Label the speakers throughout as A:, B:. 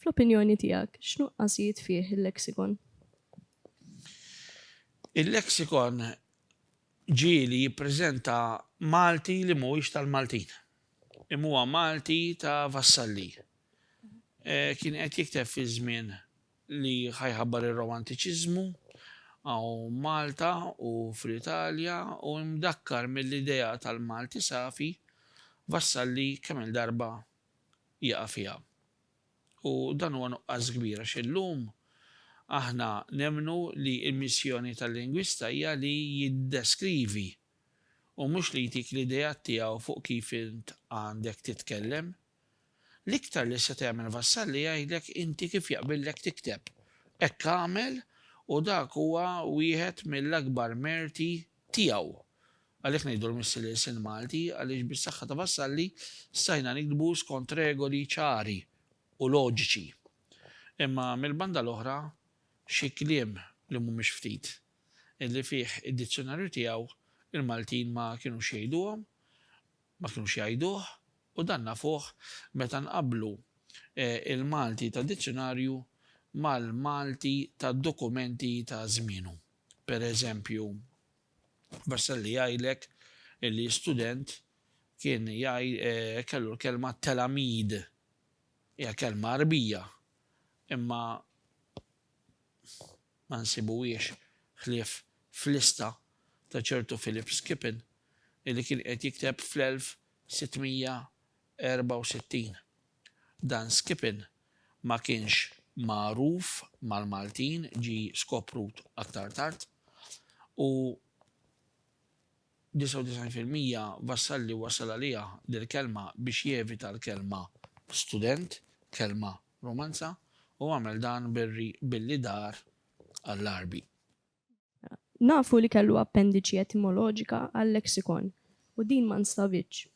A: Fl-opinjoni tiegħek, x'nuqqasijiet fih il-leksikon? Il-leksikon ġieli jippreżenta Malti li mhuwiex tal-Maltin, imma huwa Malti ta' vassalli. Kien qed jikteb fi żmien li ħa jħabbar ir-Romantiċiżmu hawn Malta u fl-Italja u imdakkar mill-idea tal-Malti safi Vassalli kemm-il darba jaqa' fiha. U dan huwa nuqqas kbir għax illum aħna nemmnu li l-missjoni tal-lingwista hija li jiddeskrivi u mhux li jtik l-ideat tiegħu fuq kif int għandek titkellem. L-iktar li se tagħmel Vassalli jgħidlek inti kif jaqbillek tikteb. Hekk għamel u dak huwa wieħed mill-akbar merti tiegħu. Għalhekk ngħidu l-Missier l-ilsien Malti għaliex bis-saħħa ta' Vassalli stajna niktbu skont regoli ċari u loġiċi. Imma mill-banda l-oħra xi kliem li mhumiex ftit li fih id-dizzjunarju tiegħu l-Maltin ma kinux jgħiduhom Ma kinux jgħiduh u dan nafuh meta nqabblu l-Malti tad-dizzjunarju mal-Malti tad-dokumenti ta' żmienu. Per eżempju, Vassalli jgħidlek li student kien kellu l-kelma telamid. Hija kelma Għarbija imma. ma nsibuhiex ħlief f'lista ta' ċertu Philip Skippon illi kien qiegħed jikteb fl-1664. Dan Skippon ma kienx magħruf mal-Maltin, ġie skoprut aktar tard, u. 99 fil-mija Vassalli wassal għaliha dil-kelma biex jevita l-kelma student, kelma Romanza, u għamel dan bir-ri billi dar għall-Għarbi. Nafu li kellu appendiċi etimoloġika għal-lexikon u din ma nstabitx.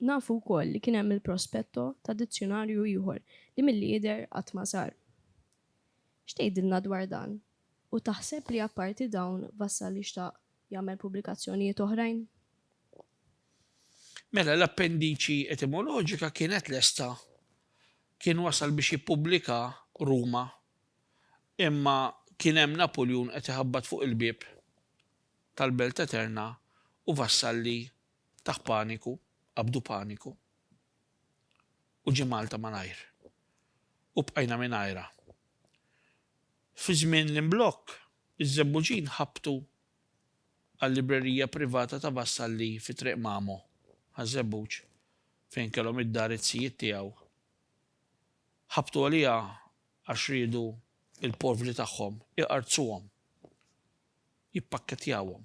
A: Nafu wkoll li kien hemm il-prospetto ta' dizzjunarju ieħor li milli jidher qatt ma sar. X'tgħidilna dwar dan? U taħseb li apparti dawn Vassalli xtaq jagħmel pubblikazzjonijiet oħrajn. Mela l-appendiċi etimoloġika kienet lesta. Kien wasal biex jippubblika Ruma. Imma kien hemm Napuljun qed iħabbat fuq il-bieb tal-Belt Eterna u Vassalli taħ paniku, qabdu paniku. U ġie Malta malajr. U bqajna mingħajrha. Fi żmien l-imblokk, iż-Żebbuġin ħabbtu għal-librerija privata ta' Vassalli fi Triq Mamo, Ħaż-Żebbuġ, fejn kellhom id-dar iz-zijiet tiegħu. Ħabbtu għaliha għax riedu l-povri tagħhom iqarrzuhom. jippakkettjawhom.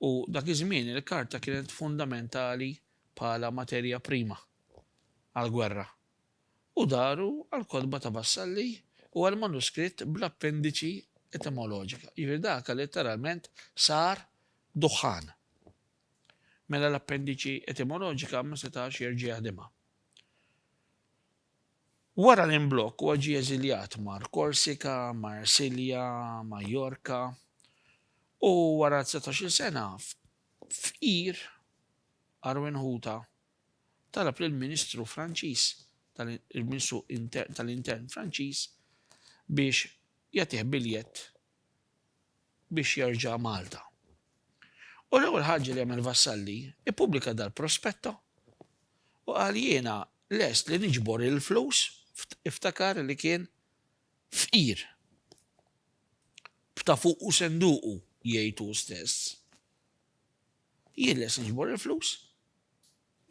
A: U dak iż-żmien il-karta kienet fundamentali bħala materja prima għall-gwerra. U daru għall-kotba ta' Vassalli u għall-manuskritt bl-appendiċi etimoloġika, jiġifieri dak letteralment sar duħħan. Mela l-appendiċi etimoloġika ma setax jerġa' jaħdimha. Wara l-imblokk huwa ġie eżiljat mar Korsika, Marsilja, Majorka u wara dsatax-il sena fqir Arwin Ħuta talab lill-Ministru Franċiż tal-Ministru tal-Intern Franċiż biex jagħtih biljett biex jerġa' Malta. U l-ewwel ħaġa li għamel Vassalli, ippubblika dal-prospetto u qal jiena lest li niġbor il-flus, iftakar li kien fqir, b'ta' fuqu senduqu, jgħid hu stess, jien lest niġbor il-flus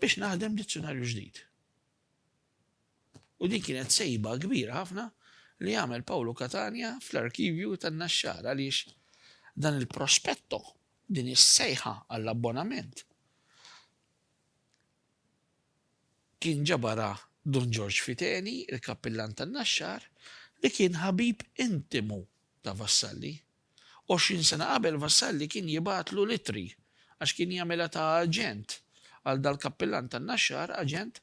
A: biex naħdem dizzjunarju ġdid. U din kienet sejba kbira ħafna li għamel Pawlu Catania fl-arkivju tan-Naxxar għaliex dan il-prospetto, din is-sejħa għall-abbonament kien ġabarha Dun Ġorġ Fiteni, il-Kappillan tan-Naxxar li kien ħabib intimu ta' Vassalli. Għoxrin sena qabel Vassalli kien jibgħatlu l-ittri għax kien jagħmilha ta' aġent għal dal-kappillan tan-Naxxar, aġent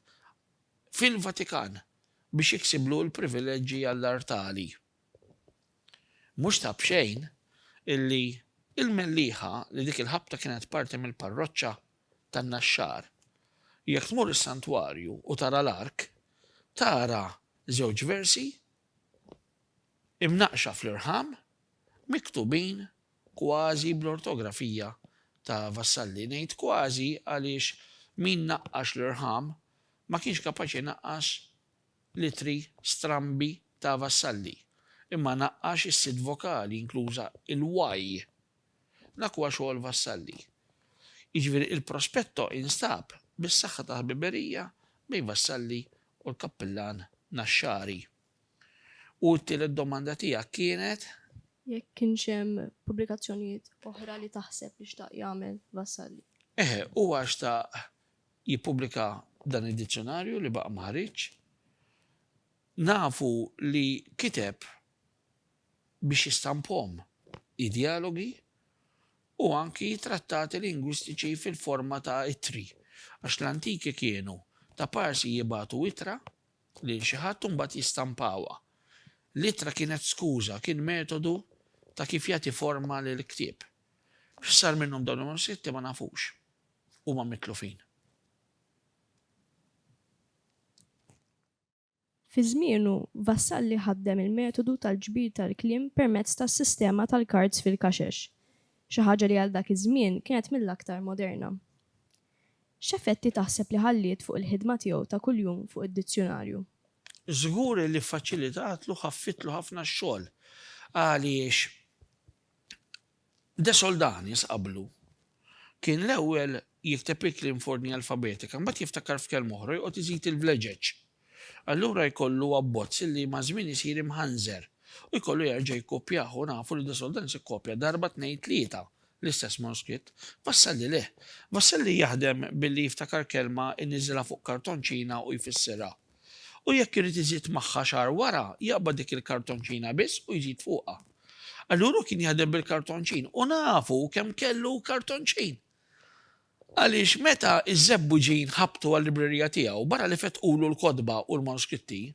A: fil-Vatikan biex jiksiblu l-privileġġi għall-artali. Mhux ta' b'xejn illi il-Mellieħa li dik il-ħabta kienet parti mill-parroċċa tan-Naxxar, jekk tmur is-santwarju u tara l-ark, tara żewġ versi, imnaqqxa fl-irħam, miktubin kważi bl-ortografija ta' Vassalli. Ngħid kważi għaliex min naqqax l-irħam ma kienx kapaċi jnaqqas l-ittri strambi ta' Vassalli, imma naqqax is-sitt vokali, inkluża l-y. Dak huwa xogħol Vassalli. Jiġifieri il-prospetto instab bis-saħħa ta' ħbiberija bejn Vassalli u l-kappillan Naxxari. U t-tielet domanda tiegħek kienet? Jekk kienx hemm pubblikazzjonijiet oħra li taħseb li xtaq jagħmel Vassalli. Eħe, huwa xtaq jippubblika dan id-dizzjonarju li baqa' ma ħariġx. Nafu li kiteb biex jistampahom id-djalogi u anki trattati lingwistiċi fil-forma ta' ittri. Għax l-antiki kienu ta' parsi jibatu ittra lil xi ħadd u mbagħad jistampawha. L-ittra kienet skuża, kien metodu ta' kif jagħti forma lill-ktieb. X'sar minnhom dawn il-manuskritti ma nafux. Huma mitlufin. Fi żmienu, Vassalli ħaddem il-metodu tal-ġbir tal-kliem permezz tas-sistema tal-kards fil-kaxex, xi ħaġa li għal dak iż-żmien kienet mill-aktar moderna. X'effetti taħseb li ħalliet fuq il-ħidma tiegħu ta' kuljum fuq id-dizzjunarju? Żgur li ffaċilitatlu, ħaffittlu ħafna x-xogħol għaliex De Soldanis qablu kien l-ewwel jikteb il-kliem f'ordni alfabetika, mbagħad jiftakar f'kelma oħra u joqgħod iżid il-vleġeġ. Allura jkollu abbozz li maż-żmien isir imħanżer u jkollu jerġa' jikkopjah u nafu li De Soldanis ikkopja darba tnejn tlieta l-istess manuskritt. Vassalli le. Vassalli jaħdem billi jiftakar kelma jniżżilha fuq kartonċina u jfissirha. U jekk irid iżid magħha xahar wara jaqbad dik il-kartonċina biss u jżid fuqha. Allura hu kien jaħdem bil-kartonċin u nafu kemm kellu kartonċin! Għaliex meta ż-Żebbuġin ħabbtu għal-librerija tiegħu, barra li fettqulu l-kotba u l-manuskritti,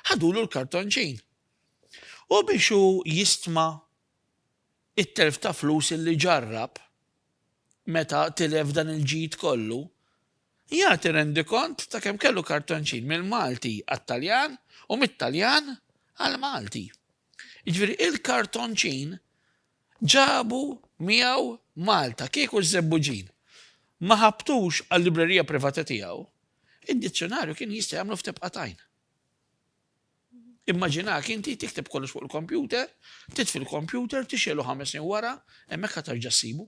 A: ħadulu l-kartonċin. U biex hu jistma t-telf ta' flus li ġarrab meta tilef dan il-ġid kollu, jagħti rendikont ta' kemm kellu kartonċin mill-Malti għat-Taljan u mit-Taljan għall-Malti. Jiġifieri, il-kartonċin Ġabu miegħu Malta kieku ż-Żebbuġin ma ħabtux għal-librerija privata tiegħu, id-dizzjunarju kien jista' jagħmlu f'tebqa' t'għajn. Immaġinak inti tikteb kollox fuq il-kompjuter, titfi l-kompjuter, tixgħelu ħames snin wara, hemmhekk ħa terġa' ssibu.